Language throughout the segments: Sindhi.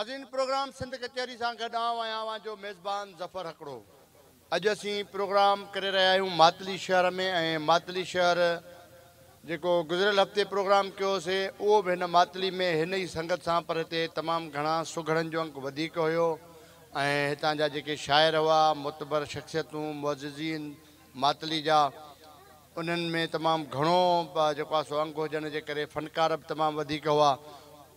ناظرين پروگرام سنڌ ڪچهري سان گڏ آئون ۽ اوهان جو ميزبان ظفر هڪڙو اڄ اسين پروگرام ڪري رهيا آهيون ماتلي شهر ۾ ۽ ماتلي شهر جيڪو گذريل هفتي پروگرام ڪيو هوسي اهو به هن ماتلي ۾ هن ئي سنگت سان پر هتي تمام گهڻا سگهڙن جو انڪ وڌيڪ هيو ۽ هتان جا جيڪي شاعر هئا معتبر شخصيتون معززين ماتلي جا انهن ۾ تمام گهڻو جيڪو آهي سو انگ هجڻ جي ڪري فنڪار به تمام وڌيڪ هئا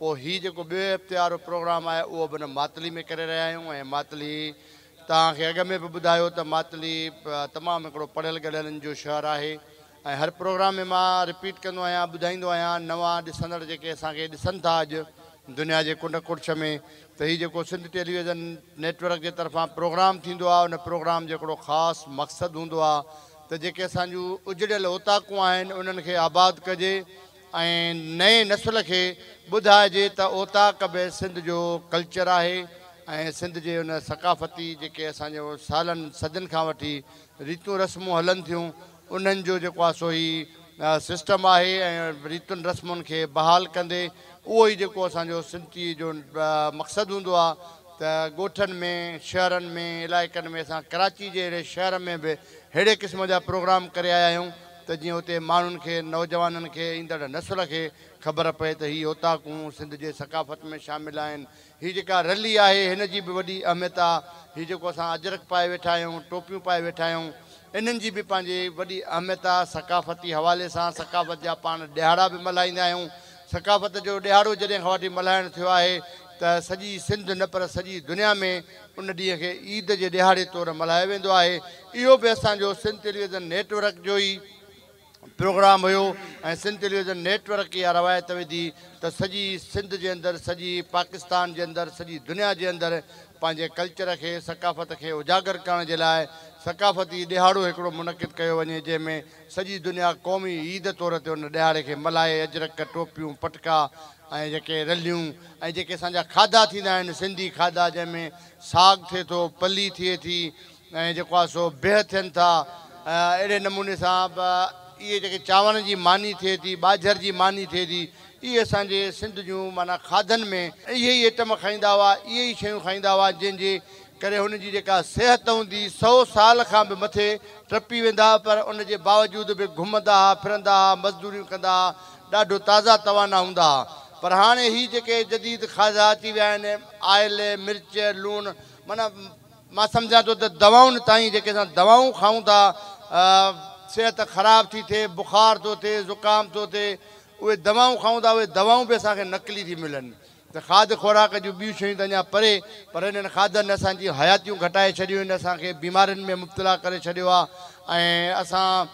پوء هي جيڪو ٻئي هفتي وارو پروگرام آهي اهو به هن ماتلي ۾ ڪري رهيا آهيون ۽ ماتلي توهان کي اڳ ۾ به ٻڌايو ته ماتلي تمام هڪڙو پڙهيل ڳڙهيل ان جو شهر آهي. ۽ هر پروگرام ۾ مان رپيٽ ڪندو آهيان ٻڌائيندو آهيان نوان ڏسندڙ جيڪي اسان کي ڏسن ٿا اڄ دنيا جي ڪنڊ ڪڙڇ ۾ ته هي جيڪو سنڌ ٽيليويزن نيٽ ورڪ جي طرفان پروگرام ٿيندو آهي ان پروگرام جو هڪڙو خاص مقصد هوندو آهي ته جيڪي اسان جون اجڙيل اوطاقون آهن انهن کي آباد ڪجي ۽ نئين نسل کي ٻڌائجي ته اوطاق به سنڌ جو ڪلچر آهي ۽ سنڌ جي ان ثقافتي جيڪي اسان جو سالن صدين کان وٺي ريتون رسمون هلن ٿيون انهن جو جيڪو آهي سو هي سسٽم آهي ۽ ريتن رسمن کي بحال ڪندي اهو ئي جيڪو اسان جو سنتي جو مقصد هوندو آهي ته ڳوٺن ۾ شهرن ۾ علائقن ۾ اسان ڪراچي جي اهڙي شهر ۾ به ههڙي قسم جا پروگرام ڪري آيا آهيون ته جيئن اتي ماڻهن کي نوجوانن کي ايندڙ نسل کي خبر پئي ته هي اوطاقون سنڌ جي ثقافت ۾ شامل آهن هي جيڪا رلي آهي هن جي به وڏي اهميت آ. هي جيڪو اسان اجرڪ پائي ويٺا آهيون، ٽوپيون پائي ويٺا آهيون، انهن جي به پنهنجي وڏي اهميت آ. ثقافتي حوالي سان ثقافت جا پاڻ ڏهاڙا به ملهائيندا آهيون. ثقافت جو ڏهاڙو جڏهن کان وٺي ملهائڻ ٿيو آهي ته سڄي سنڌ نه پر سڄي دنيا ۾ ان ڏينهن کي عيد جي ڏهاڙي طور ملهايو ويندو آهي. اهو به اسان جو سنڌ ٽيليويزن نيٽ ورڪ جو ئي پروگرام هيو ۽ سنڌ ٽيليويزن نيٽ ورڪ اها روايت توهي ٿي ته سڄي سنڌ جي اندر سڄي پاڪستان جي اندر سڄي دنيا جي اندر پنهنجي ڪلچر کي ثقافت کي اجاگر ڪرڻ جي لاء ثقافتي ڏهاڙو هڪڙو منعقد ڪيو وڃي جنهن ۾ سڄي دنيا قومي عيد طور تي ان ڏهاڙي کي ملهائي اجرڪ ٽوپيون پٽڪا ۽ جيڪي رليون ۽ جيڪي اسان جا کاڌا ٿيندا آهن سنڌي کاڌا جنهن ۾ ساڳ ٿئي ٿو پلي ٿئي ٿي ۽ جيڪو آهي سو بيهه ٿين ٿا ۽ اهڙي نموني سان به اهي جيڪي چانورن جي ماني ٿئي ٿي، ٻاجهر جي ماني ٿئي ٿي، اهي اسان جي سنڌ جون معنيٰ کاڌن ۾ اهي ئي ائٽم کائيندا هئا، اهي ئي شيون کائيندا هئا جنهن جي ڪري هن جي جيڪا صحت هوندي سئو سال کان به مٿي ٽپي ويندا هئا پر ان جي باوجود به گهمندا هئا، ڦرندا هئا، مزدوريون ڪندا هئا، ڏاڍو تازا توانا هوندا هئا پر هاڻي هي جيڪي جديد کاڌا اچي ويا آهن آئل، مرچ، لوڻ معنيٰ. مان سمجهان ٿو ته دوائن تائين جيڪي اسان دوائون کائون ٿا صحت خراب ٿي ٿئي، بخار ٿو ٿئي، زڪام ٿو ٿئي، اهي دوائون کائون ٿا اهي دوائون به اسان کي نقلي ٿي ملن ته کاڌ خوراڪ جون ٻيون شيون ته اڃا پري پر انهن کاڌن اسان جون حياتيون گهٽائي ڇڏيون آهن اسان کي بيمارين ۾ مبتلا ڪري ڇڏيو آهي ۽ اسان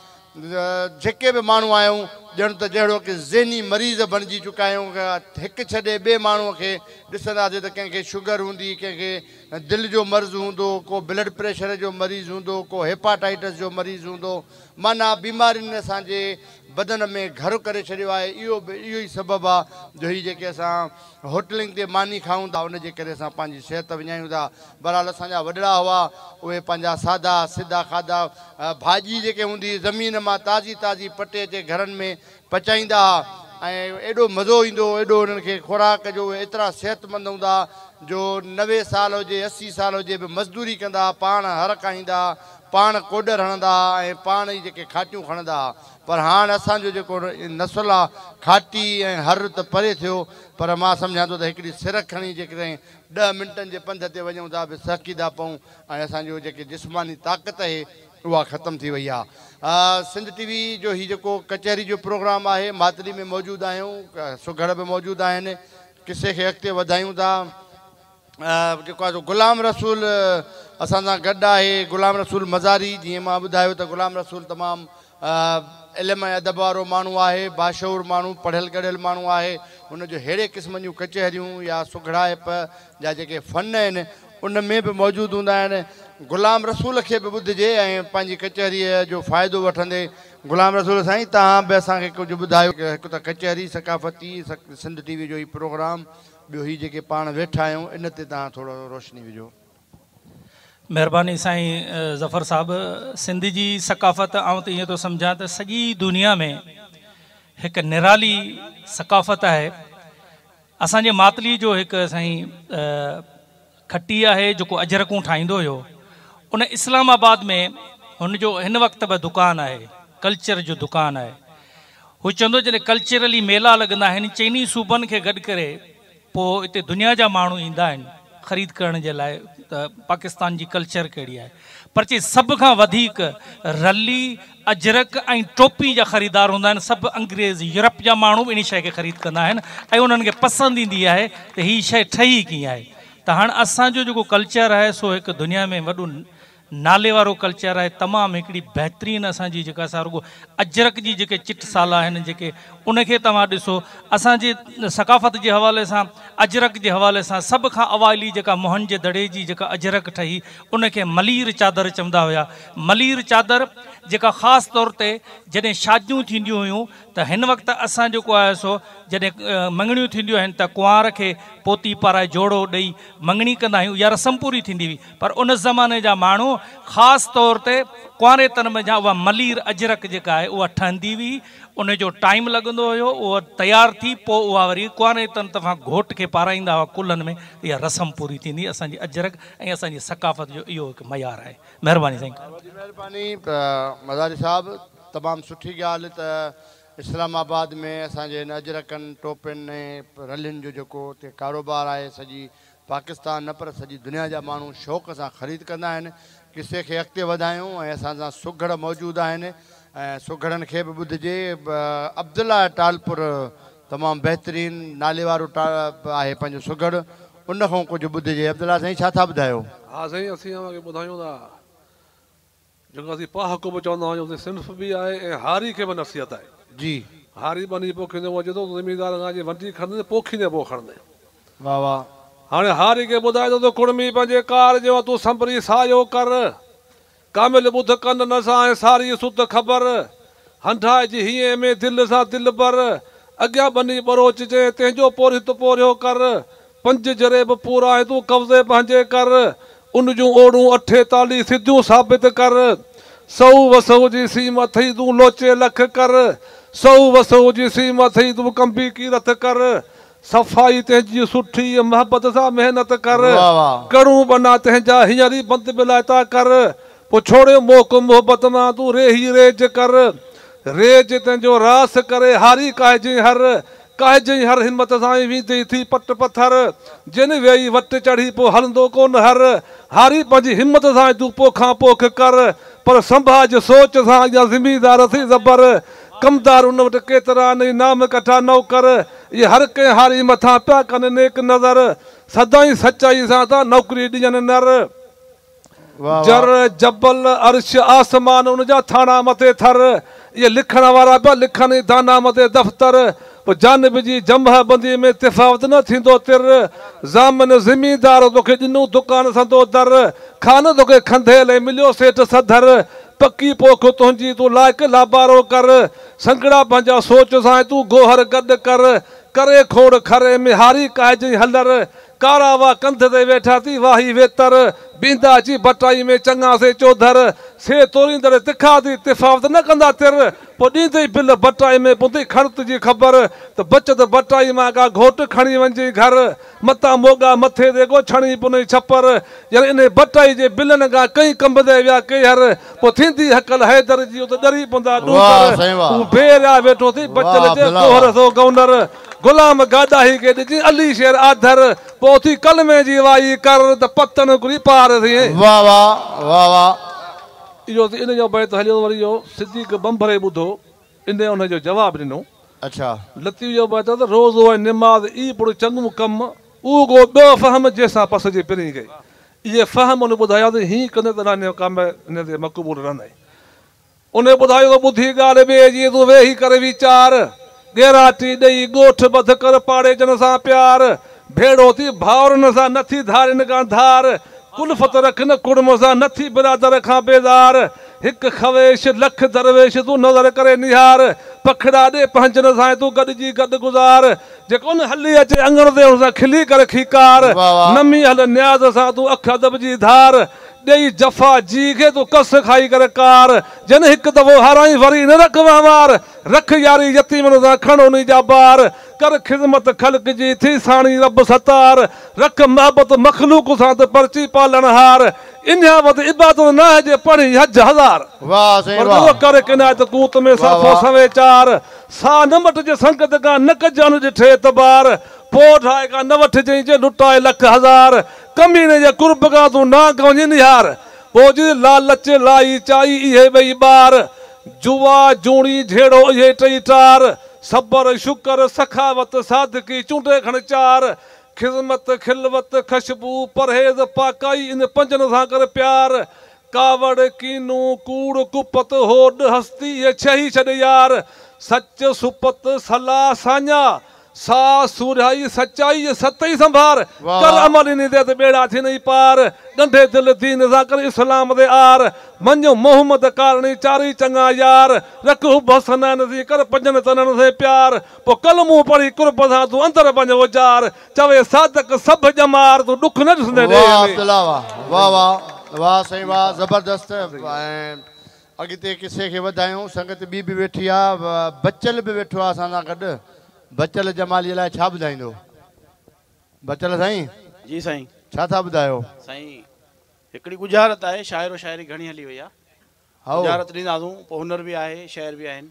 جيڪي به ماڻهو آهيون ڄڻ ته جهڙوڪ ذهني مريض بڻجي چڪا آهيون هڪ ڇڏي ٻئي ماڻهو کي ڏسنداسين ته ڪنهن کي شگر هوندي ڪنهن کي دل جو مرض هوندو، ڪو بلڊ پريشر جو مريض هوندو، ڪو هيپاٽائيٽس جو مريض هوندو، معنيٰ بيمارين اسان جي بدن ۾ گهر ڪري ڇڏيو آهي، اهو به اهو ئي سبب آ جو هي جيڪي اسان هوٽلنگ تي ماني کائون ٿا ان جي ڪري اسان پنهنجي صحت وڃايون ٿا، بهرحال اسان جا وڏڙا هئا اهي پنهنجا سادا سڌا کاڌا ڀاڄي جيڪي هوندي هئي زمين مان تازي تازي پٽي اچي گهرن ۾ پچائيندا ها ۽ ايڏو مزو ايندو هو ايڏو انهن کي خوراڪ جو اهي ايترا صحتمند هوندا ها جو نوي سال هجي اسي سال هجي به مزدوري ڪندا ها پاڻ هر ڪاهيندا ها پاڻ ڪوڏر هڻندا ها ۽ پاڻ ئي جيڪي کاٽيون کڻندا ها پر هاڻ اسان جو جيڪو نسل آ کاٽي ۽ هر ته پري ٿيو پر مان سمجهان ٿو ته هڪڙي سرڪ کڻي جيڪڏهن ڏهه منٽن جي پنڌ تي وڃون ٿا به سهڪيدا پئون ۽ اسان جو جيڪي جسماني طاقت اهي اها ختم ٿي وئي آهي. سنڌ ٽي وي جو هي جيڪو ڪچهري جو پروگرام آهي ماتلي ۾ موجود آهيون سگهڙ به موجود آهن قصي کي اڳتي وڌايون ٿا جيڪو آهي سو غلام رسول اسان سان گڏ آهي غلام رسول مزاري جيئن مان ٻڌايو ته غلام رسول تمام علم ۽ ادب وارو ماڻهو آهي باشعور ماڻهو پڙهيل ڳڙهيل ماڻهو آهي ان جو ههڙي قسم جون ڪچهريون يا سگهڙائپ جا جيڪي فن آهن ان ۾ به موجود هوندا آهن. غلام رسول کي به ٻڌجي ۽ پنهنجي ڪچهريء جو فائدو وٺندي، غلام رسول سائين توهان به اسان کي ڪجهه ٻڌايو. هڪ ته ڪچهري، ثقافتي، سنڌ ٽي وي جو هي پروگرام، ٻيو هي جيڪي پاڻ ويٺا آهيون ان تي توهان ٿورو روشني وجهو. مهرباني سائين ظفر صاحب، سنڌ جي ثقافت آئون ته ائين ٿو سمجهان ته سڄي دنيا ۾ هڪ نرالي ثقافت آهي. اسان جي ماتلي جو هڪ سائين کٽي آهي جيڪو اجرڪون ٺاهيندو هيو ان اسلام آباد ۾ هن جو هن وقت به دڪان آهي ڪلچر جو دڪان آهي هو چوندو جڏهن ڪلچرلي ميلا لڳندا آهن چئني صوبن کي گڏ ڪري پو اتي دنيا جا ماڻهو ايندا آهن خريد ڪرڻ جي لاء ته پاڪستان جي ڪلچر ڪهڙي آهي پر چي سڀ کان وڌيڪ رلي اجرڪ ۽ ٽوپي جا خريدار هوندا آهن. سڀ انگريز، يورپ جا ماڻهو به انهي شيء کي خريد ڪندا آهن ۽ انهن کي پسند ايندي آهي ته هي شيء ٺهي ڪيئن آهي. ته هاڻ اسان جو جيڪو ڪلچر آهي سو هڪ دنيا ۾ وڏو نالي وارو ڪلچر آهي. تمام هڪڙي بهترين اسان جي جيڪا سا رڳو اجرڪ جي جيڪي چٽ سالا آهن جيڪي ان کي توهان ڏسو اسان جي ثقافت جي حوالي سان اجرڪ جي حوالي سان سڀ کان اوائلي جيڪا موهن جي دڙي جي جيڪا اجرڪ ٺهي ان کي ملير چادر چوندا هيا. ملير چادر جيڪا خاص طور تي جڏهن شاديون ٿينديون هيون ته هن وقت اسان جيڪو آهي سو جڏهن مڱڻيون ٿينديون آهن ته ڪنوار کي پوتي پارائي جوڙو ڏئي مڱڻي ڪندا آهيون اها رسم پوري ٿيندي هئي پر ان زماني جا ماڻهو خاص طور تي ڪنواري تن ۾ جا اها ملير اجرڪ جيڪا آهي اها ٺهندي هئي ان جو ٽائيم لڳندو هيو اها تيار ٿي پوء اها وري ڪنواري تن طرفان گهوٽ کي پارائيندا هئا ڪلهن ۾ ته اها رسم پوري ٿيندي اسان جي اجرڪ ۽ اسان جي ثقافت جو اهو هڪ معيار آهي مھرباني سائين. وڏي مھرباني مزاري صاحب تمام سٺي ڳالهه ته اسلام آباد ۾ اسان جي هن اجرڪن ٽوپين ۽ رلين جو جيڪو اتي ڪاروبار آهي سڄي پاڪستان نه پر سڄي دنيا جا ماڻهو شوق سان خريد ڪندا آهن قصي کي اڳتي وڌايون ۽ اسان سان سگهڙ موجود آهن ۽ سگهڙن کي به ٻڌجي عبدالله ٽالپر تمام بهترين ناليوارو ٽا آهي پنهنجو سگهڙ ان کان ڪجهه ٻڌجي عبدالله سائين ڇا ٿا ٻڌايو. ها سائين اسين اوهان کي ٻڌايون ٿا جيڪو اسين پاهه ڪو به چوندا آهيون اسين صنف به آهي ۽ هاري کي به نصيحت آهي جي. هاري ٻني پوکيندي هو اچي ٿو ته زميندار کان اچي ونڊي کڻندي پوکيندي پوء کڻندي. واھ واھ. هاڻي هاري کي ٻڌائي ٿو ته ڪڙمي پنهنجي ڪار جي وقت تون سنڀري سايو ڪر. ڪامل ٻڌ ڪنن سان ۽ ساري سڌ خبر، هنڍائجي هينء ۾ دل سان دلبر، اڳيان ٻني ٻروچ جنهن تنهنجو پورهيت پورهيو ڪر، پنج جري به پورائي تون قبضي پنهنجي ڪر، ان جون اوڙون اٺيتاليهه سڌيون ثابت ڪر، سئو وسئو جي سيم اٿئي تون لوچي لک ڪر، سئو وسئو جي سيم اٿئي تون ڪنبي ڪيرٿ ڪر، صفائي تنهنجي سٺي، محبت سان محنت ڪر، ڪڙون ٻنا تنهنجا هينئر ئي بند بلائتا ڪر، پوء ڇوڙيو موڪ محبت مان تون ريهي ريج ڪر، ريج تنهنجو راس ڪري هاري ڪاهجين هر، ڪاهجين هر همت سان ۽ ويندين ٿي پٽ پٿر، جن ويئي وٽ چڙهي پوء هلندو ڪونه هر، هاري پنهنجي همت سان ۽ تون پوکان پوک ڪر، پر سنڀاج سوچ سان اڳيان زميندار اٿئي زبر، ڪمدار ان وٽ ڪيترا آهن اي نام ڪٺا نوڪر اهي هر ڪنهن هاري مٿان پيا ڪن نيڪ نظر سدائين سچائي سان ٿا نوڪري ڏين نر جر جبل عرش آسمان ان جا ٿاڻا مٿي ٿر اهي لکڻ وارا پيا لکن اي دانا مٿي دفتر. پوء جانب جي جمهه بندي ۾ تفاوت نه ٿيندو تر، ضامن زميندار توکي ڏنو دڪان سندو در، خانه توکي کنڌيل ۽ مليو سيٺ سڌر، پڪي پوک تنهنجي تون لائق لابارو ڪر، سنگهڙا پنهنجا سوچ سان ۽ تون گوهر گڏ ڪر، ڪري کوڙ کري ۾ هاري ڪاهجئين هلر، ڪارا وا ڪنڌ تي ويٺا ٿي واهي ويتر، بيندا جي ڀٽائي ۾ چڱا سي چوڌر، سي توريندڙ تکا ٿي تفاوت نه ڪندا تر، پوء ڏيندئي بل ڀٽائي ۾ پوندئي کڙت جي خبر، ته بچت ڀٽائي مان ڪا گهوٽ کڻي وڃجئي گهر، متان موڳا مٿي تي ڪو ڇڻي پونئي ڇپر، ڄڻ انهي ڀٽائي جي بلن کان ڪئين ڪنبندئي ويا ڪيهر، پوء ٿيندي هڪل حيدر جي اتي ڏري پوندا ڏوڪر، هو بي ريا ويٺو ٿي بچل جي ڪوهر سو گونر. غلام گاداهي کي ڏجي علي شير آڌر پوء اٿي ڪلمي جي وائي ڪر ته پتڻ هڪڙي پار ٿئي. واھ واھ واھ واھ. اهو ته ان جو بيت هليو وري اهو صديق ڀنڀري ٻڌو ان ان جو جواب ڏنو. اڇا. لطيف جو بيت ته روزو ۽ نماز ئي پڙ چڱو ڪم اهو گو ٻيو فهم جنهن سان پس جي پرين ڪئي اهي فهم ان ٻڌايا ته هين ڪندي ته نانيو ڪامي نندي مقبول رنئي. انهيء ٻڌايو ته ٻڌي ڳالهه ٻئي جي تون ويهي ڪر ويچار، ڳيراٽي ڏئي ڳوٺ ٻڌ ڪر پاڙيجن سان پيار، ڀيڙو ٿي ڀائرن سان نه ٿي ڌارين کان ڌار، ڪلفت رک نه ڪڙم سان نه ٿي برادر کان بيزار، هڪ خويش لک درويش تون نظر ڪري نهار، پکڙا ڏي پنهنجن سان تون گڏجي گڏ گذار، جيڪو نه هلي اچي اڱڻ تي ان سان کلي ڪر کيڪار، نمي هل نياز سان تون اک ادب جي ڌار، ڏيئي جفا جي کي تون ڪس کائي ڪر ڪار جنھن ھڪ دفعو ھارائين وري نه رک وھنوار رک ياري يتيمن سان کڻ انھي جا بار ڪر خدمت خلق جي ٿي ساڻي رب ستار رک محبت مخلوق سان ته پرچي پالڻھار انھيان وڌ عبادت ناھي جي پڙھين حج ھزار پر روء ڪر ھڪ عنايت قوت ۾ صافو سوين چار ساھ نه مٽجي سنگت کان نه ڪجي اڻ ڏٺي اعتبار پوء ڊاھي کان نه وٺجئين جي لٽائي لک ھزار ڪميڻي جي قرب کان تون نانگ وڃي نهار، پوء جي لالچ لائي چائي اهي ٻئي ٻار، جوا جوڻي جهيڙو اهي ٽئي ٽار، صبر شڪر سخاوت صادقي چونڊي کڻ چار، خذمت خلوت خشبو پرهيز پاڪائي ان پنجن سان ڪر پيار، ڪاوڙ ڪينو ڪوڙ ڪپت هوڏ هستي اهي ڇهه ئي ڇڏ يار، سچ سپت صلاح ساڃاهه سا سورهيائي سچائي ۽ ستهي سنڀار، ڪر عمل انهي تي ته ٻيڙا ٿينئي پار، ڳنڍي دل دين سان ڪر اسلام تي عار، مڃ محمد ڪارڻي چارئي چڱا يار، رک حب حسنين سين ڪر پنجن تنن سين پيار، پوء ڪلمون پڙهي قرب سان تون اندر وڃ اجار، چوي صادق سڀ ڄمار تون ڏک نه ڏسندين ڏيهه ۾. اڳتي قصي کي وڌايون. سنگت ٻي به ويٺي آ. بچل به ويٺو آ اسان سان گڏ. بچل جماليء لاء ڇا ٻڌائيندو؟ بچل سائين! جي سائين! ڇا ٿا ٻڌايو؟ سائين! هڪڙي ڳجهارت آهي. شاعر و شاعري گهڻي هلي وئي آ. هائو! ڳجهارت ڏينداسون. پوء هنر به آهي، شعر به آهن.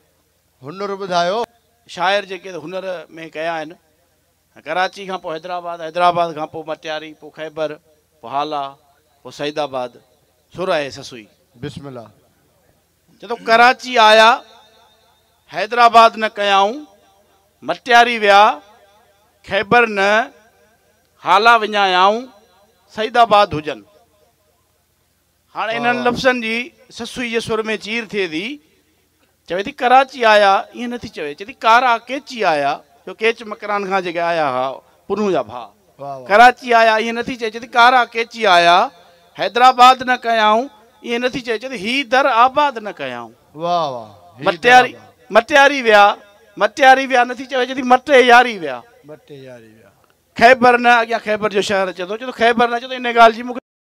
هنر ٻڌايو. شاعر جيڪي هنر ۾ ڪيا آهن. ڪراچي کان پوء حيدرآباد، حيدرآباد کان پوء مٽياري، پوء خيبر، پوء هالا، پوء سعيد آباد، ڇو رهي سسوئي. بسم الله. چئه ٿو ڪراچي آيا، حيدرآباد نه ڪيائون، مٽياري ويا، خيبر نه، هالا وڃايائون، سعيد آباد هجن. هاڻ انهن لفظن جي سسئي جي سر ۾ چير ٿئي ٿي. چوي ٿي ڪراچي آيا، ائين نه ٿي چوي. چوي ٿي ڪارا ڪيچي آيا، جو ڪيچ مڪران کان جيڪي آيا هئا، پنهون جا ڀاء. ڪراچي آيا، ائين نه ٿي چوي. چوي ٿي ڪارا ڪيچي آيا، حيدرآباد نه ڪيائون، ائين نه ٿي چوي. چوي ٿي هي در آباد نه ڪيائون. مٽياري ويا، مٽياري ويا نه ٿي چوي. چوي ٿي مٽي ياري ويا. خيبر نه، اڳيان خيبر جو شهر اچي ٿو. چوي ٿو خيبر نه، چوي ٿو انهيء ڳالهه جي مون کي.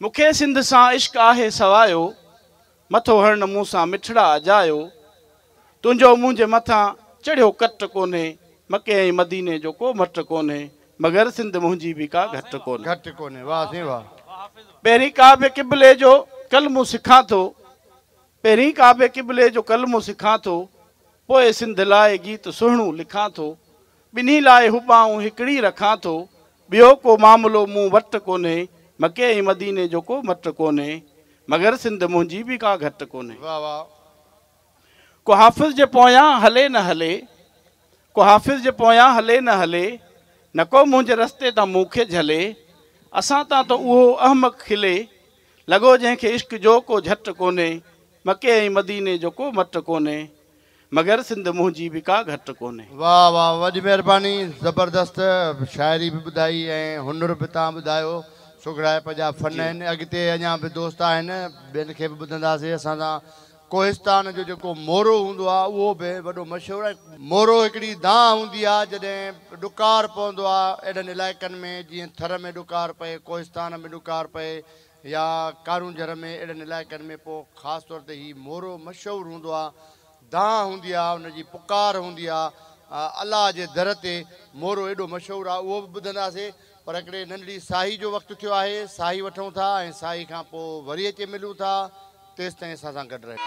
مون کي سنڌ سان عشق آهي سوايو، مٿو هڻ مون سان مٺڙا اجايو، تنهنجو منهنجي مٿان چڙهيو ڪٽ ڪونهي، مڪي ۽ مديني جو ڪو مٽ ڪونهي، مگر سنڌ منهنجي به ڪا گهٽ ڪونهي. پهرين ڪعبي قبلي جو ڪلمو سکان ٿو، پهرين ڪعبي قبلي جو ڪلمو سکان ٿو، پوء سنڌ لاء گيت سهڻو لکان ٿو، ٻنهي لاء هٻائون هڪڙي رکان ٿو، ٻيو ڪو معاملو مون وٽ ڪونهي، مڪي ۽ مديني جو ڪو مٽ ڪونهي، مگر سنڌ منهنجي به ڪا گهٽ ڪونهي. واھ واھ. ڪو حافظ جي پويان هلي نه هلي، ڪو حافظ جي پويان هلي نه هلي، نه ڪو منهنجي رستي تان مون کي جهلي، اسان تان ته اهو احمق کلي، لڳو جنهن کي عشق جو ڪو جهٽ ڪونهي، مڪي ۽ مديني جو ڪو مٽ ڪونهي، مگر سنڌ منهنجي به ڪا گهٽ ڪونهي. واه واه وڏي مهرباني زبردست شاعري به ٻڌائي ۽ هنر به تان ٻڌايو سگهڙائپ جا فن آهن اڳتي اڃان به دوست آهن ٻين کي به ٻڌنداسي اسان سان ڪوهستان جو جيڪو مورو هوندو آهي اهو به وڏو مشهور آهي مورو هڪڙي دانهن هوندي آهي جڏهن ڏڪار پوندو آهي اهڙن علائقن ۾ جيئن ٿر ۾ ڏڪار پئي ڪوهستان ۾ ڏڪار پئي يا ڪارونجهر ۾ اهڙن علائقن ۾ پوء خاص طور تي هي مورو مشهور هوندو آ. دانهن هوندي آ، ان جي پڪار هوندي آ. الله جي در تي مورو ايڏو مشهور آ اهو به ٻڌنداسين پر هڪڙي ننڍڙي ساهي جو وقت ٿيو آهي ساهي وٺون ٿا ۽ ساهي کان پوء وري اچي ملون ٿا. تيستائين اسان سان گڏ رهيو.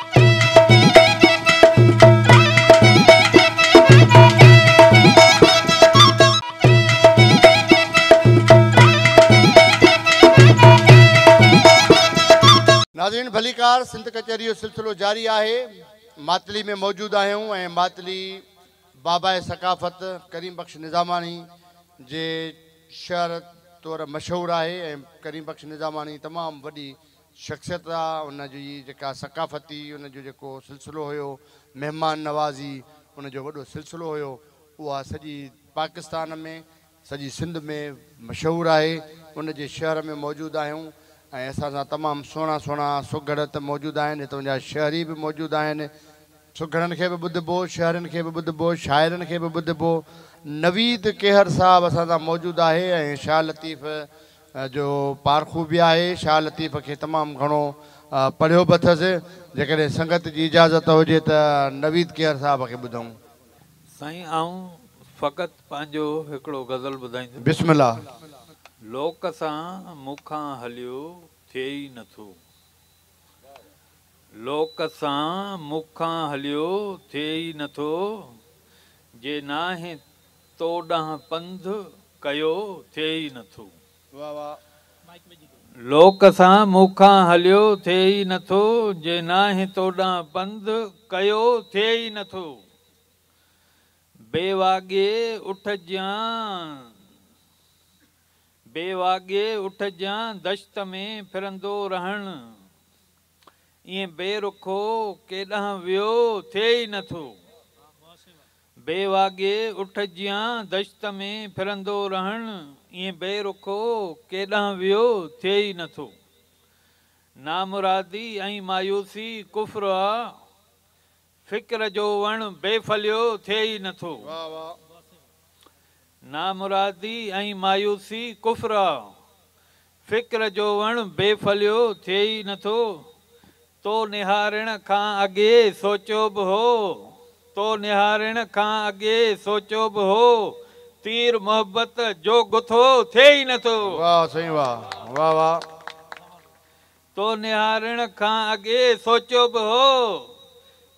ناظرين ڀليڪار سنڌ ڪچهري جو سلسلو جاري آهي ماتلي ۾ موجود آهيون ۽ ماتلي باباء ثقافت ڪريم بخش نظاماڻي جي شهر طور مشهور آهي ۽ ڪريم بخش نظاماڻي تمام وڏي شخصيت آ، ان جي جيڪا ثقافتي ان جو جيڪو سلسلو هيو، مهمان نوازي ان جو وڏو سلسلو هيو، اها سڄي پاڪستان ۾، سڄي سنڌ ۾ مشهور آهي، ان جي شهر ۾ موجود آهيون ۽ اسان سان تمام سهڻا سهڻا سگهڙ ته موجود آهن، هتون جا شهري به موجود آهن، سگهڙن کي به ٻڌبو، شهرين کي به ٻڌبو، شاعرن کي به ٻڌبو، نويد کهر صاحب اسان سان موجود آهي ۽ شاهه لطيف جو پارکو به آهي، شاهه لطيف کي تمام گهڻو پڙهيو به اٿس، جيڪڏهن سنگت جي اجازت هجي ته نويد کهر صاحب کي ٻڌون. سائين آئون فقط پنهنجو هڪڙو غزل ٻڌائيندس. بسم الله. لوڪ سان مون کان هليو ٿئي ئي نه ٿو. لوڪ سان مون کان هليو ٿئي ئي نه ٿو. جي ناهي تو ڏانهن پنڌ ڪيو ٿئي ئي نٿو. لوڪ سان مون کان هليو ٿئي ئي نٿو. جي ناهي تو ڏانهن پنڌ ڪيو ٿئي ئي نٿو. بي واڳي اٺ جيان بي واڳي اٺ جيان دشت ۾ ڦرندو رهڻ ائين بي رخو ڪيڏانهن ويو ٿئي ئي نه ٿو. بي واڳي اٺ جيان دشت ۾ ڦرندو رهڻ ائين بي رخو ڪيڏانهن ويو ٿئي ئي نه ٿو. نامرادي ۽ مايوسي ڪفر آ. فڪر جو وڻ بي ڦليو ٿئي ئي نه ٿو. نامرادي ۽ مايوسي ڪفر آ. فڪر جو وڻ بي ڦليو ٿئي ئي نه ٿو. تو نهارڻ کان اڳي سوچيو به هو، تو نهارڻ کان اڳي سوچيو به هو، تير محبت جو گٿو ٿئي ئي نه ٿو. واهه سائين واهه واهه واهه. تو نهارڻ کان اڳي سوچيو به هو،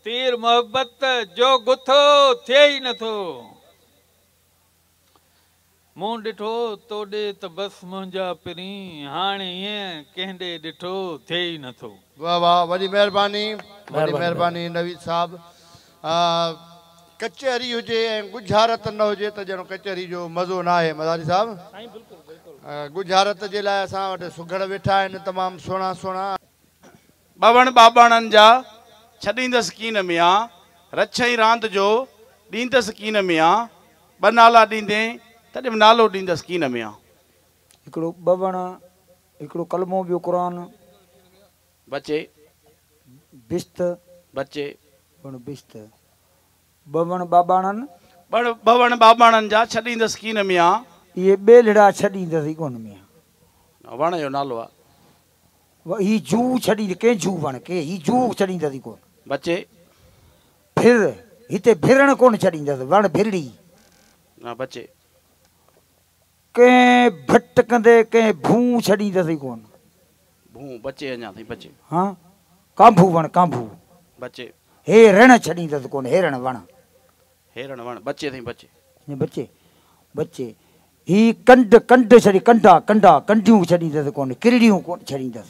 تير محبت جو گٿو ٿئي ئي نه ٿو. مون ڏٺو تو ڏي ته بس منهنجا پرين، هاڻي ايئن ڪنهن ڏي ڏٺو ٿئي ئي نه ٿو. واھ واھ وڏي مهرباني وڏي مهرباني نويد صاحب ها ڪچهري هجي ۽ ڳجهارت نه هجي ته ڄڻ ڪچهري جو مزو ناهي مزاري صاحب ڳجهارت جي لاء اسان وٽ سگهڙ ويٺا آهن تمام سهڻا سهڻا. ٻاوهڻ ٻاٻاڻن جا ڇڏيندس ڪين ميان رڇئي راند جو ڏيندس ڪين ميان ٻه نالا ڏيندين تڏهن به نالو ڏيندس ڪين ميان. هڪڙو ٻاوهڻ هڪڙو ڪلمو ٻيو قرآن. بچي، بشت، بچي. وڻ بشت، ٻه وڻ ٻاٻاڻن. ٻڙ، ٻه وڻ ٻاٻاڻن جا ڇڏيندس ڪين ميان. اهي ٻيلهڙا ڇڏيندس ئي ڪون ميان. وڻ جو نالو آ. و، هي جوء ڇڏيندس ڪين جوء وڻ کي هي جوء ڇڏيندس ئي ڪون. بچي. ڀر، هتي ڀرڻ ڪون ڇڏيندس وڻ ڀرڙي. بچي. ڪنهن ڀٽ ڪندي ڪنهن ڀونء ڇڏيندس ئي ڪونه. ڀونء بچي اڃا تائين بچي. ها ڪانڀو وڻ ڪانڀو. بچي. هي رڻ ڇڏيندس ڪونه هيرڻ وڻ. هيرڻ وڻ بچي تائين بچي. اڃا بچي بچي. هي ڪنڊ ڪنڊ ڇڏي ڪنڊا ڪنڊا ڪنڊيون ڇڏيندس ڪونه ڪرڙيون ڪونه ڇڏيندس.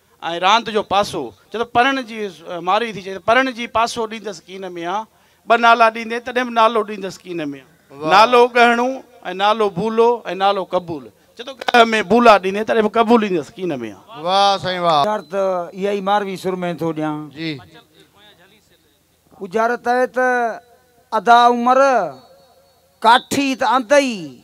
۽ راند جو پاسو. چئه ته پرڻ جي مارئي ٿي. چئه ته پرڻ جي پاسو ڏيندس ڪين ميان. ٻه نالا ڏيندين تڏهن به نالو ڏيندس ڪين ميان. نالو ڳهڻو ۽ نالو بولو ۽ نالو قبول. چئه ته ڳهه ۾ بولا ڏيندين تڏهن به قبول ڏيندس ڪين ميان. واهه سائين واهه. اجارت اها ئي ماروي سر ۾ ٿو ڏيان. جي. اجارت اهي ته ادا عمر ڪاٺي ته آندئي.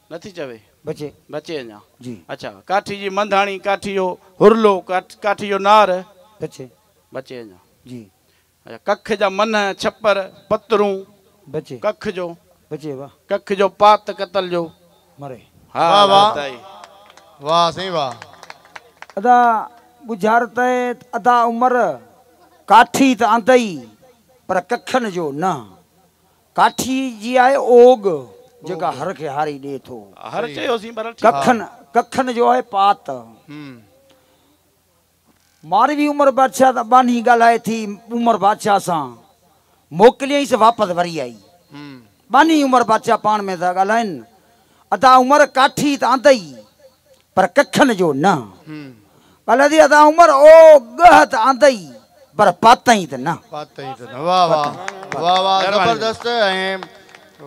نٿي چوي بچي بچي اڃا جي. اچا ڪاٺي جي منڌاڻي ڪاٺي جو هرلو ڪاٺي جو نار بچي بچي اڃا جي. اچا ڪک جا منهه ڇپر پترون بچي ڪک جو بچي واهه. ڪک جو پات قتل جو مري. ها واھ ها واھ تائي. واھ سائين واھ. ادا ڳجهار ته ادا عمر ڪاٺي ته آندئي پر ڪکن جو نه. ڪاٺي جي آهي اوڳ، جيڪا هر کي هاري ڏي ٿو. ڪکن، ڪکن جو آهي پات. ماروي عمر بادشاهه سان ٻانهي ڳالهائي ٿي عمر بادشاهه سان موڪليائينس واپس وري آئي. ٻانهي عمر بادشاهه پاڻ ۾ ٿا ڳالهائين، ادا عمر ڪاٺي ته آندئي، پر ڪڇن جو نه. ڪلهه جي ادا عمر او ڳهه ته آندئي پر پاتئين ته نه. پاتئين ته نه واه واه واه واه زبردست ۽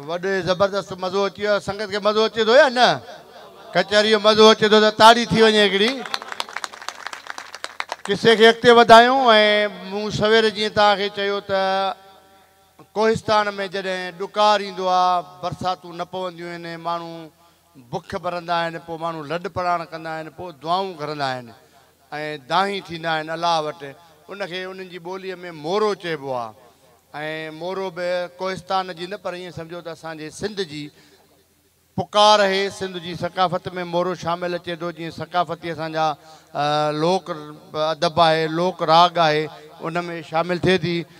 وڏي زبردست مزو اچي ويو سنگت کي مزو اچي ٿو يا نه ڪچهري جو مزو اچي ٿو ته تاڙي ٿي وڃي هڪڙي قصي کي اڳتي وڌايون ۽ مون سوير جيئن توهان کي چيو ته ڪوهستان ۾ جڏهن ڏڪار ايندو آهي برساتون نه پونديون آهن ۽ ماڻهو بک برندا آهن، پوء ماڻهو لڏ پلاڻ ڪندا آهن، پوء دعائون گهرندا آهن ۽ دانهين ٿيندا آهن الله وٽ، ان کي انهن جي ٻوليء ۾ مورو چئبو آهي ۽ مورو به ڪوهستان جي نه پر ائين سمجهو ته اسان جي سنڌ جي پڪار اهي، سنڌ جي ثقافت ۾ مورو شامل اچي ٿو، جيئن ثقافتي اسان جا لوڪ ادب آهي، لوڪ راڳ آهي، ان ۾ شامل ٿئي ٿي.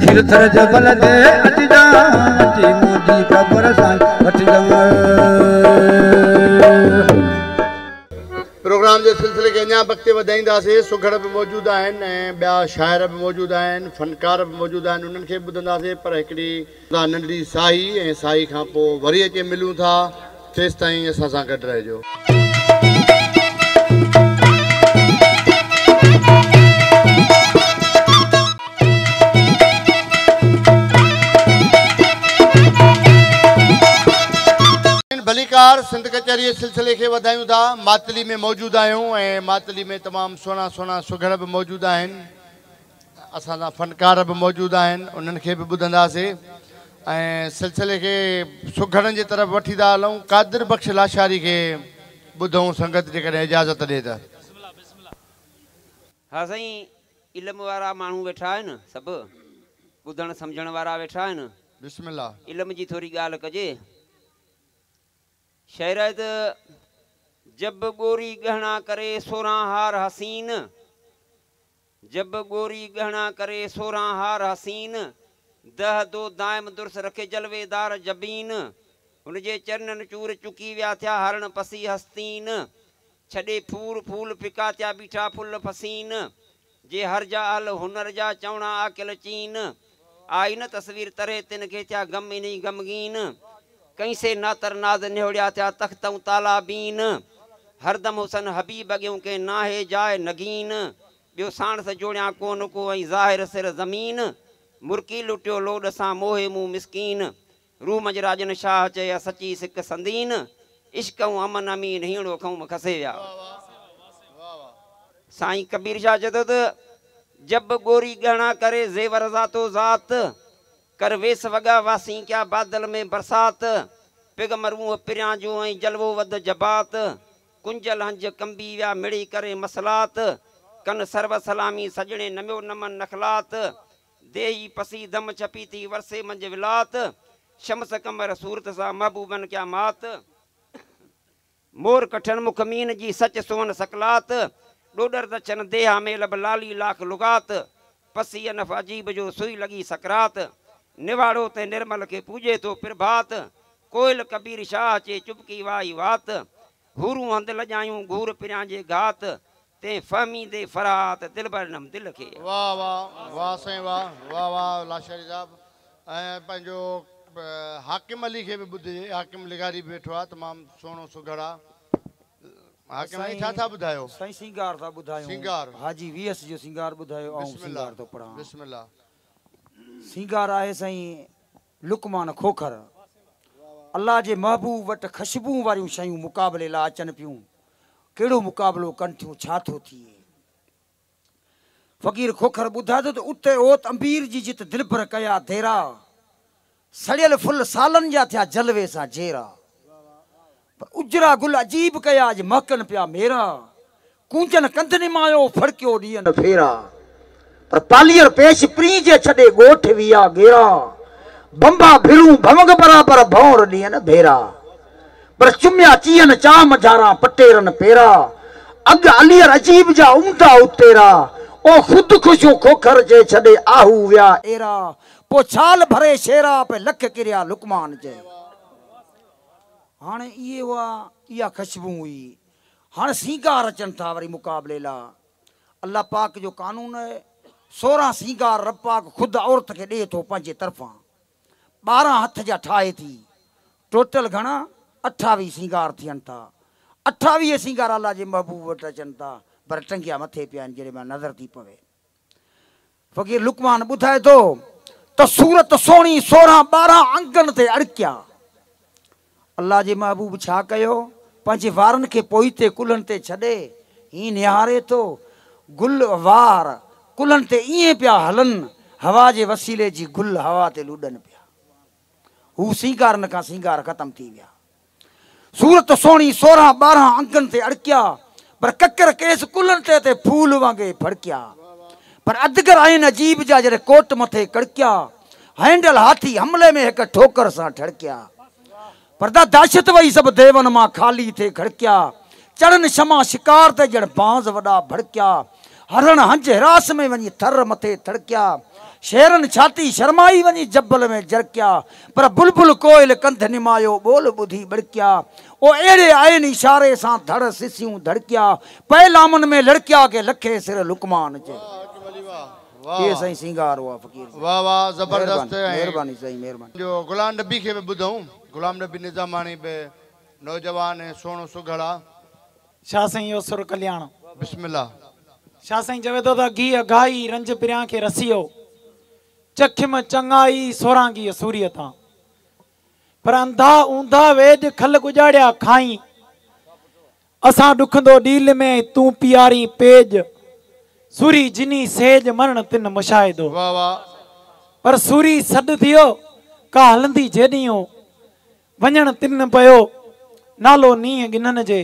کير ٿر جبل تي اچ جان اچي منهنجي قبر سان وٺ جان. پروگرام جي سلسلي کي اڃان به اڳتي وڌائينداسين سگهڙ به موجود آهن ۽ ٻيا شاعر به موجود آهن فنڪار به موجود آهن انهن کي به ٻڌنداسين پر هڪڙي ڪا ننڍڙي ساهي ۽ ساهي کان پوء وري اچي ملون ٿا تيستائين اسان سان گڏ رهجو. ان ڀليڪار سنڌ ڪچهريء سلسلي کي وڌايون ٿا. ماتلي ۾ موجود آهيون ۽ ماتلي ۾ تمام سهڻا سهڻا سگهڙ به موجود آهن. اسان سان فنڪار به موجود آهن انهن کي به ٻڌنداسي ۽ سلسلي کي سگهڙن جي طرف وٺي ٿا هلون قادر بخش لاشاري کي ٻڌون سنگت جيڪڏهن اجازت ڏي ته. بسم الله بسم الله. ها سائين علم وارا ماڻهو ويٺا آهن سڀ ٻڌڻ سمجهڻ وارا ويٺا آهن. بسم الله. علم جي ٿوري ڳالهه ڪجي. شعرائت جب ڳوري ڳهڻا ڪري سورهان هار حسين جب ڳوري ڳهڻا ڪري سورهان هار حسين، دهه دو دائم درس رکي جلوي دار جبين، هن جي چرنن چور چڪي ويا ٿيا هارڻ پسي هستين، ڇڏي ڦور ڦول ڦڪا ٿيا بيٺا ڦل فسين، جي هر جا اهل هنر جا چوڻا عاقل چين، آئي نه تصوير تري تن کي ٿيا غم انهي غمگين ڪئين سي ناتر ناز نهوڙيا ٿيا تخت ۽ تالابين هردم حسن حبيب اڳيون ڪنهن ناهي جاء نگين ٻيو ساڻس جوڙيان ڪونه ڪو ۽ ظاهر سر زمين مرڪي لٽيو لوڏ سان موهي مون مسڪين روح منجهه راڄن شاهه چئي ها سچي سڪ سندين عشق ائون امن امين هينڙو کنهون م کسي ويا ها. سائين ڪبير شاهه چئي ٿو ته جب ڳوري ڳهڻا ڪري زيور ذاتو ذات ڪر ويس وڳا واسين ڪيا بادل ۾ برسات پگهه م روح پريان جو ۽ جلوو وڌ جبات ڪنجل هنج ڪنبي ويا مڙئي ڪري مصلات ڪن سرو سلامي سڄڻي نميو نمن نخلات ديهي پسي دم ڇپي ٿي ورسي منجهه ولات شمس قمر صورت سان محبوبن ڪيا مات مور ڪٺن مک مين جي سچ سونهن سڪلات ڏوڏر دڇن ديها ۾ لڀ لالي لاک لغات پسي انف عجيب جو سوئي لڳي سڪرات نواڙو تنهن نرمل کي پوڄي ٿو پرڀات ڪوئل ڪبير شاهه چي چپڪي وائي وات حورون هنڌ لڄايون گهور پريان جي گهات تنهن فهميندي فرات دلبر نم دل کي. واھ واھ واھ سائين واھ واھ واھ لاشاري صاحب ۽ پنهنجو حاڪم علي کي به ٻڌجي حاڪم لغاري به ويٺو آ تمام سهڻو سگهڙ آ حاڪم علي ڇا ٿا ٻڌايو. سائين سينگار ٿا ٻڌايون سينگار حاجي وي ايس جو سينگار ٻڌايو آئون بسم الله سينگار ٿو پڙهان بسم الله. سينگار آهي سائين لقمان کوکر الله جي محبوب وٽ خشبون واريون شيون مقابلي لاء اچن پيون ڪهڙو مقابلو ڪن ٿيون، ڇا ٿو ٿئي؟ فقير کوکر ٻڌائي ٿو ته اتي اوت امبير جي جت دلبر ڪيا ديرا، سڙيل ڦل سالن جا ٿيا جلوي سان جيرا، پر اجرا گل عجيب ڪيا اڄ مهڪن پيا ميرا، ڪونجن ڪنڌ نمايو ڦڙڪيو ڏينهن ڦيرا. پر پالير پيش پرين جي ڇڏي ڳوٺ ويا گيرا بنبا ڀرون ڀونگ برابر ڀونر ڏين ڀيرا پر چميا چيئن چاه منجهاران پٽيرن پيرا اڳ علير عجيب جا عمدا اتيرا او خود خوشون کوکر جي ڇڏي آهو ويا ايرا پو ڇال ڀري شيرا پي لک ڪريا لقمان جي هاڻي اهي هئا اها خشبون هئي هاڻي سينگار اچن ٿا وري مقابلي لا. الله پاڪ جو قانون اهي سورهن سينگار رب پاڪ خود عورت کي ڏئي ٿو پنهنجي طرفان ٻارهن هٿ جا ٺاهي ٿي ٽوٽل گهڻا اٺاويهه سينگار ٿين ٿا اٺاويهه سينگار الله جي محبوب وٽ اچن ٿا پر ٽنگيا مٿي پيا آهن جڏهن مان نظر ٿي پوي فقير لقمان ٻڌائي ٿو ته سورت سهڻي سورهن ٻارهن انگن تي اڙڪيا. الله جي محبوب ڇا ڪيو؟ پنهنجي وارن کي پوئتي ڪلهن تي ڇڏي هيئن نهاري ٿو. گل وار ڪلهن تي ائين پيا هلن، هوا جي وسيلي جي گل هوا تي لڏن پيا. هو سينگارن کان سينگار ختم ٿي ويا. صورت سهڻي سورهن ٻارهن انگن تي اڙڪيا پر ڪڪر ڪيس ڪلهن تي تي ڦول وانگي ڦڙڪيا پر ادگر آهن عجيب جا جڏهن ڪوٽ مٿي ڪڙڪيا هينڊل هاٿي حملي ۾ هڪ ٺوڪر سان ٺڙڪيا پردا دهشت وئي سڀ ديون مان خالي ٿي کڙڪيا چڙن شمع شڪار تي ڄڻ بانز وڏا ڀڙڪيا هرڻ هنج هراس ۾ وڃي ٿر مٿي ٿڙڪيا شيرن ڇاتي شرمائي وڃي جبل ۾ جرڪيا پر بلبل ڪوئل ڪنڌ نمايو ٻول ٻڌي ٻڙڪيا او اهڙي عين اشاري سان ڌڙ سسيون ڌڙڪيا پئي لامن ۾ لڙڪيا ڪي لکي سر لقمان جي. واهه واهه سائين سينگار هو فقير سائين واهه واهه زبردست مهرباني سائين مهرباني جو غلام نبي کي به ٻڌون غلام نبي نظاماڻي به. نوجوان ۽ سهڻو سگهڙا. شاھ سائين اهو سر ڪلياڻ. بسم الله. شاھ سائين چوي ٿو ته گيھ گائي رنج پريان کي رسيو چکيم چڱائي سوران گيھ سوريء تان پر انڌا اوندھا ويڄ کل ڳڄاڙيا کائين اسان ڏکندو ڏيل ۾ ۽ تون پيارين پيڄ سوري جني سيڄ مرڻ تن مشاهدو پر سوري سڏ ٿيو ڪا هلندي جيڏيون وڃڻ تن پيو نالو نينهن ڳنن جي.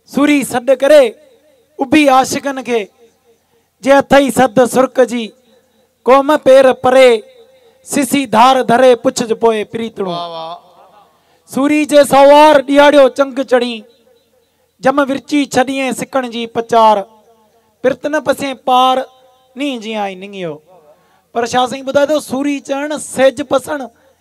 سوري سڏ ڪري اڀي عاشقن کي، جي اٿئي سڌ سرڪ جي قوم پير پري سسي ڌار ڌري پڇج پوء پريتڻو. سوري جي سوار ڏيهاڙيو چنگ چڙهين، جم ورچي ڇڏيئين سڪڻ جي پچار، پرت نه پسين پار نينهن جيان ئي ننگيو. پر شاهه سائين ٻڌائي ٿو سوري چڙهڻ سيج پسڻ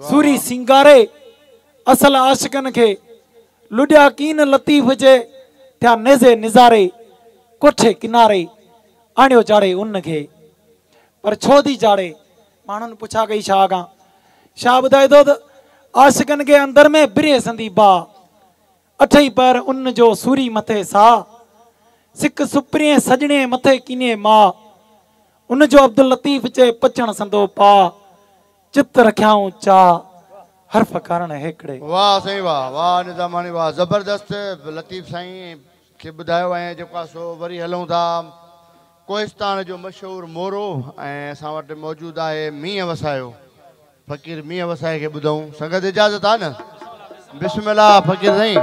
سوري سينگاري اصل عاشقن کي، لڏيا ڪين لطيف جي، ٿيا نيزي نظاري، ڪوٺي ڪناري، آڻيو چاڙهي ان کي. پر ڇو ٿي چاڙهي؟ ماڻهن پڇا ڪئي شاهه کان. شاهه ٻڌائي ٿو ته عاشقن کي اندر ۾ بري سندي باهه، اٺئي پهر ان جو سوري مٿي ساء، سڪ سپرينء سڄڻي مٿي ڪينيء ماء، ان جو عبداللطيف چئي پچڻ سندو پاء، چت رکيائون چاء، حرف ڪارڻ هيڪڙي. واھ سائين واھ واھ نظاماڻي واھ زبردست لطيف سائين کي ٻڌايو ۽ جيڪو آ سو وري هلون ٿا. ڪوهستان جو مشهور مورو ۽ اسان وٽ موجود آهي مينهن وسايو فقير مينهن وسائي کي ٻڌائون سنگت اجازت آ نه بسم الله فقير سائين.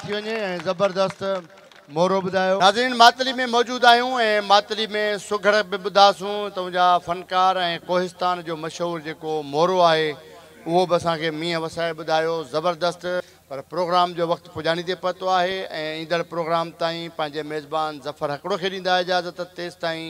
ٿي وڃي ۽ زبردست مورو ٻڌايو. ناظرين ماتلي ۾ موجود آهيون ۽ ماتلي ۾ سگهڙ به ٻڌاسون تون جا فنڪار ۽ ڪوهستان جو مشهور جيڪو مورو آهي اهو به اسان کي مينهن وسائي ٻڌايو زبردست. پر پروگرام جو وقت پڄاڻي تي پهتو آهي ۽ ايندڙ پروگرام تائين پنهنجي ميزبان ظفر هڪڙو کي ڏيندا اجازت تيستائين